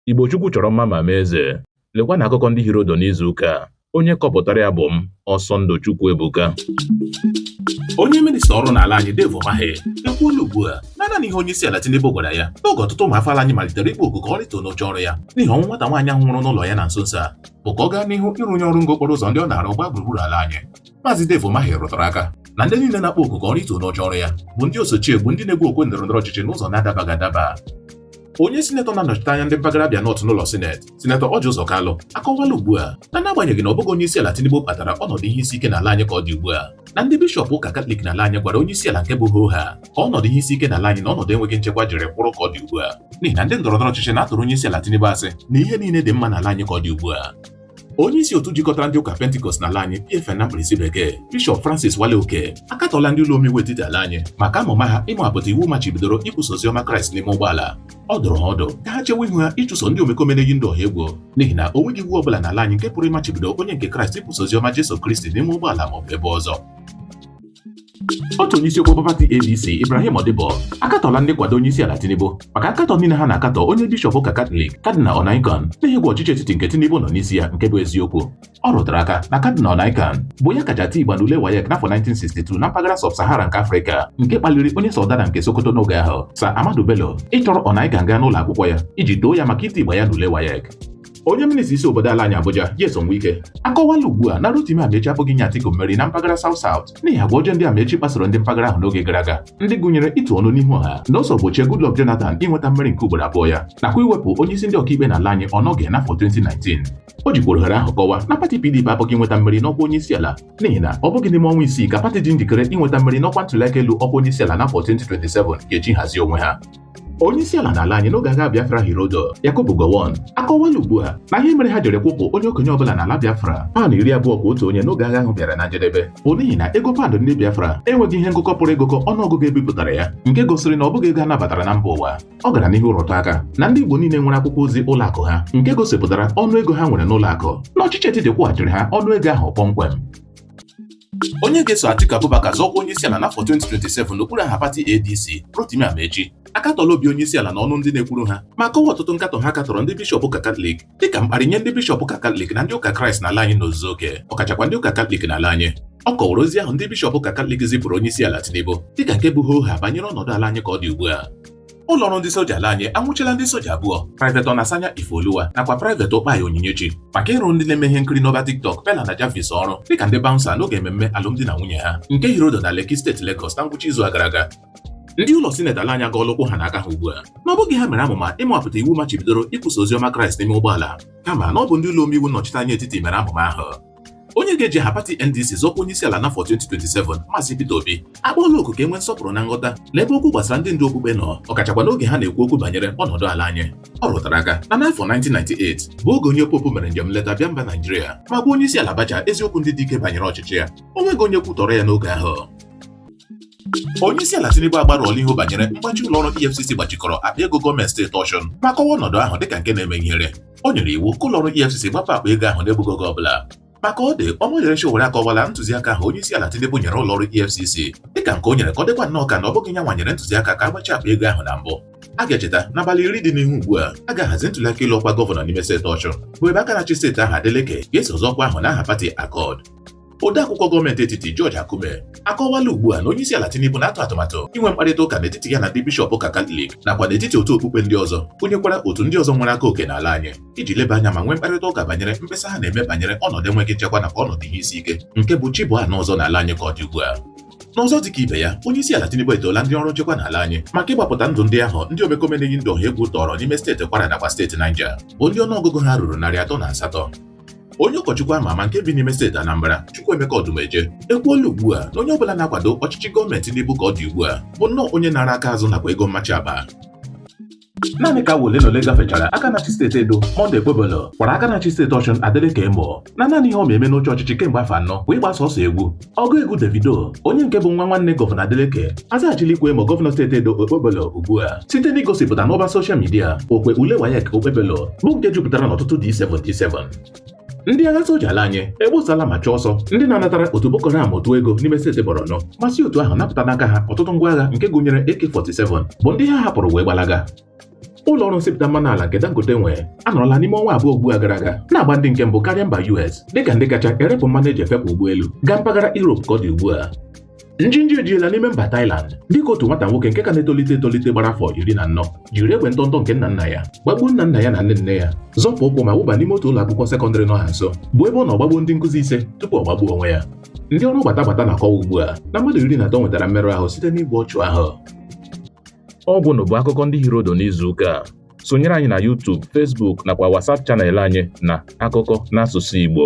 Igbo Chukwu chọrọ mma ma mee eze. Lekwanụ akụkọ ndị hiri ụdụ n'izu ụka a. Onye kọpụtara ya bụ m, Ọsọndụ Chukwuebuka. Onye minista ọrụ n'ala anyị Dave Umahi ekwuola ugbu a na naanị ihe onyeisiala Tinubu gwara ya n'oge ọtụtụ ụmụ afọ ala anyị malitere ịkpọ oku ka ọ rịtuo n'oche ọrụ ya n'ihi ọnwụ nwata nwaanyị ahụ nwụrụ n'ụlọ ya na nso nso a bụ ka ọ gaa n'ihu ịrụnye ọrụ ngo okporo ụzọ ndị ọ na-arụ gbaa gburugburu ala anyị Maazị Dave Umahi rụtara aka na ndị niile na-akpọ oku ka ọ rịtuo n'oche ọrụ ya bụ ndị osochiegbu ndị na-egwu okwe ndọrọ ndọrọ ọchịchị n'ụzọ na-adabaghị adaba onye sinetọ na-anọchite anya ndị mpaghara Abia North n'ụlọ sineti sinetọ Orji Uzor Kalu akọwala ugbu a na n'agbanyeghị na ọ bụghị onye isi ala Tinubu kpatara ọnọdụ ihe isi ike n'ala anyị ka ọ dị ugbu a na ndị bishọp ụka katọlik n'ala anyị gwara onye isi ala nke bụ hoo haa ka ọnọdụ ihe isi ike n'ala anyị na ọnọdụ enweghị nchekwa jiri kwụrụ ka ọ dị ugbu a n'ihi na ndị ndọrọndọrọ ọchịchị na-atụrụ onye isi ala Tinubu asị na ihe niile dị mma n'ala anyị ka ọ dị ugbu a onye isi otu jikọtara ndị ụka pentikọst n'ala anyị PFN na mkpirisi bekee bishọp Francis Wale Oke akatọla ndị ụlọ omeiwu etiti ala anyị maka amụma ha ịmapụta iwu machibidoro ikwusa oziọma kraịst n'ime ụgbọala ọ dụrụ ha ọdụ ka ha chewe ihu ha ịchụso ndị omekome na-eyi ndụ ọha egwu n'ihi na o nweghị iwu ọ bụla n'ala anyị nke pụrụ ịmachibido onye nke kraịst ikwusa oziọma Jesu Kristi n'ime ụgbọala maọbụ ebe ọzọ otu onye isiokwu bụ pati ADC Ibrahim Modibbo akatọla ndị nkwado onye isi ala Tinubu maka akatọ niile ha na-akatọ onye bishọp ụka Katọlik Kadinal Onaiyekan n'ihi ịgwa ọchịchị etiti nke Tinubu nọ n'isi ya nke bụ eziokwu ọ rụtara aka na Kadinal Onaiyekan bụ ya kacha tie igba n'ule WAEC n'afọ 1962 na mpaghara sub-Sahara nke Afrịka nke kpaliri onye Sardauna nke Sokoto n'oge ahụ Sir Ahmadu Bello ịchọrọ Onaiyekan gaa n'ụlọ akwụkwọ ya iji too ya maka iti igba ya n'ule WAEC onye minista isi obodo ala anyị Abuja Nyesom Wike akọwala ugbu a na Rotimi Amaechi apụghị inye Atiku mmeri na mpaghara South South n'ihi agwa ọjọọ ndị Amaechi kpasoro ndị mpaghara ahụ n'oge gara aga ndị gụnyere ịtụ ọnụ n'ihu ọha na o so gbochie Goodluck Jonathan inweta mmeri nke ugboro abụọ ya nakwa iwepụ onye isi ndị ọkaikpe n'ala anyị Onnoghen n'afọ 2019 o jikwara ohere ahụ kọwa na pati PDP apụghị inweta mmeri n'ọkwa onye isi ala n'ihi na ọ bụghị n'ime ọnwa isii ka pati dị njikere inweta mmeri n'ọkwa ntụliaka elu ọkwa onye isi ala n'afọ 2027 ga-eji hazie onwe ha onye isi ala n'ala anyị n'oge agha Biafra hiri ụdụ Yakubu Gowon akọwala ugbu a na ihe mere ha jiri kwụpụ onye okenye ọbụla n'ala Biafra paụnd iri abụọ kwa otu onye n'oge agha ahụ bịara na njedebe bụ n'ihi na ego paụnd ndị Biafra enweghị ihe ngụkọ pụrụ ịgụkọ ọnụọgụgụ e bipụtara ya nke gosiri na ọ bụghị ego a nabatara na mba ụwa ọ gara n'ihu rụtụ aka na ndị Igbo niile nwere akwụkwọ ozi ụlọ akụ ha nke gosipụtara ọnụ ego ha nwere n'ụlọ akụ na ọchịchị etiti kwụghachiri ha ọnụ ego ahụ kpọmkwem Onye ga-eso Atiku Abubakar zọọ ọkwa onyeisiala n'afọ 2027 n'okpuru aha pati ADC, Rotimi Amaechi akatọla obi onyeisiala na ọnụ ndị na-ekwuru ha ma kọwa ọtụtụ nkatọ ha katọrọ ndị bishọp ụka katọlik dịka mkparị nye ndị bishọp ụka katọlik na ndị ụka kraịst n'ala anyị n'ozuzu oke ọkachakwa ndị ụka katọlik n'ala anyị ọ kọwara ozi ahụ ndị bishọp ụka katọlik zipụrụ onyeisiala Tinubu dịka nke bụ hoo haa banyere ọnọdụ ala anyị ka ọ dị ugbu a ụlọ ọrụ ndị soja ala anyị anwụchila ndị soja abụọ Private Onasanya Ifeoluwa nakwa Private Ukpai Onyinyechi maka ịrụrụ ndị na-eme ihe nkiri n'ọba TikTok Peller na Jarvis ọrụ dịka ndị bouncer n'oge ememme alụmdi na nwunye ha nke hiri ụdụ na Lekki steeti Lagos na ngwụcha izu a gara aga ndị ụlọ sineti ala anyị agọọla ụkwụ ha na aka ha ugbu a na ọ bụghị ha mere amụma ịmapụta iwu machibidoro ikwusa ozi ọma Kraịst n'ime ụgbọala kama na ọ bụ ndị ụlọ omeiwu nnọchiteanya etiti mere amụma ahụ onye ga-eji aha pati NDC zọọ ọkwa onye isi ala n'afọ 2027 Maazị Peter Obi akpọọla oku ka e nwee nsọpụrụ na nghọta n'ebe okwu gbasara ndị ndu okpukpe nọ ọkachakwa n'oge ha na-ekwu okwu banyere ọnọdụ ala anyị ọ rụtara aka na n'afọ 1998 bụ oge onye popu mere njem nleta bịa mba Naijiria ma gwa onye isi ala Abacha eziokwu ndị dị ike banyere ọchịchị ya o nweghị onye kwutọrọ ya n'oge ahụ onye isi ala Tinubu agbarụọla ihu banyere mgbachi ụlọ ọrụ EFCC gbachikọrọ akpa ego gọọmenti steeti Osun ma kọwa ọnọdụ ahụ dịka nke na-eme ihere o nyere iwu ka ụlọọrụ EFCC gbapụ akpa ego ahụ n'egbughị oge ọbụla ma ka ọ dị Omoyele Sowore akọwala ntụziaka ahụ onye isi ala Tinubu nyere ụlọọrụ EFCC dịka nke o nyere ka ọ dịkwa nnọọ ka na ọ bụghị ya nwa nyere ntụziaka ka a gbachie akpa ego ahụ na mbụ a ga-echeta n'abalị iri dị n'ihu ugbu a a ga-ahazi ntụliaka ịlụ ọkwa gọvanọ n'ime steeti Osun bụ ebe aka na-achị steeti ahụ Adeleke ga-eso azọ ọkwa ahụ n'aha pati Accord odeakwụkwọ gọọmenti etiti George Akume akọwala ugbu a na onyeisiala Tinubu na-atụ atụmatụ inwe mkparịta ụka n'etiti ya na ndị bishọp ụka Katọlik nakwa n'etiti otu okpukpe ndị ọzọ gụnyekwara otu ndị ọzọ nwere aka oke n'ala anyị iji leba anya ma nwee mkparịta ụka banyere mkpesa ha na-eme banyere ọnọdụ enweghị nchekwa nakwa ọnọdụ ihe isi ike nke bụ chi bọọ a nụ ọzọ n'ala anyị ka ọ dị ugbu a n'ọzọ dịka ibe ya onye isi ala Tinubu etoola ndị ọrụ nchekwa n'ala anyị maka ịgbapụta ndụ ndị ahụ ndị omekome na-eyi ndụ ọha egwu tọrọ n'ime steeti Kwara nakwa steeti Niger bụ ndị ọnụọgụgụ ha ruru narị atọ na asatọ onye ụkọchukwu ama ama nke bi n'ime steeti Anambra Chukwuemeka Odumeje ekwuola ugbu a na onye ọbụla na-akwado ọchịchị gọọmenti Tinubu ka ọ dị ugbu a bụ nnọọ onye naara aka azụ nakwa ego mmachi agba naanị ka awa ole na ole gafechara aka na-achị steeti Edo Monday Okpebholo kwara aka na-achị steeti Osun Adeleke emo na naanị ihe ọ ma eme n'oche ọchịchị kemgbe afọ anọ bụ ịgba sọsọ egwu ọgụ egwu Davido onye nke bụ nwa nwanne gọvanọ Adeleke azaghachila ịkwa emo gọvanọ steeti Edo Okpebholo ugbu a site n'igosipụta n'ọba soshal midia okwe ule WAEC Okpebholo bụ nke jupụtara n'ọtụtụ D7 D7 ndị agha soja ala anyị egbosala ma chụọ ọsọ ndị na-anatara otu Boko Haram ụtụ ego n'ime steeti Borno ma si otu ahụ napụta n'aka ha ọtụtụ ngwa agha nke gụnyere AK-47 bụ ndị ha hapụrụ wee gbalaga ụlọ ọrụ nsipụta mmanụ ala nke Dangote nwe anọrọla n'ime ọnwa abụọ ugbu a gara aga na-agba ndị nke mbụ karịa mba US dịka ndị kacha erepụ mmanụ e ji efepụ ụgbọelu gaa mpaghara Europe ka ọ dị ugbu a njinji ejiela n'ime mba Thailand dịka otu nwata nwoke nke ka na-etolite etolite gbara afọ iri na anọ jiri egbe ntọntọ nke nna nna ya gbagbuo nna nna ya na nne nne ya zọpụ ụkwụ ma wụba n'ime otu ụlọ akwụkwọ sekọndịrị nọ ha nso bụ ebe ọ nọ gbagbuo ndị nkụzi ise tupu ọ gbagbuo onwe ya ndị ọrụ gbata gbata na-akọwa ugbu a na mmadụ iri na atọ nwetara mmerụ ahụ site n'igbu ọchụ ahụ ọ gwụ nụ bụ akụkọ ndị hiri ụdụ n'izu ụka a sonyere anyị na YouTube Facebook nakwa WhatsApp channel anyị na akụkọ n'asụsụ Igbo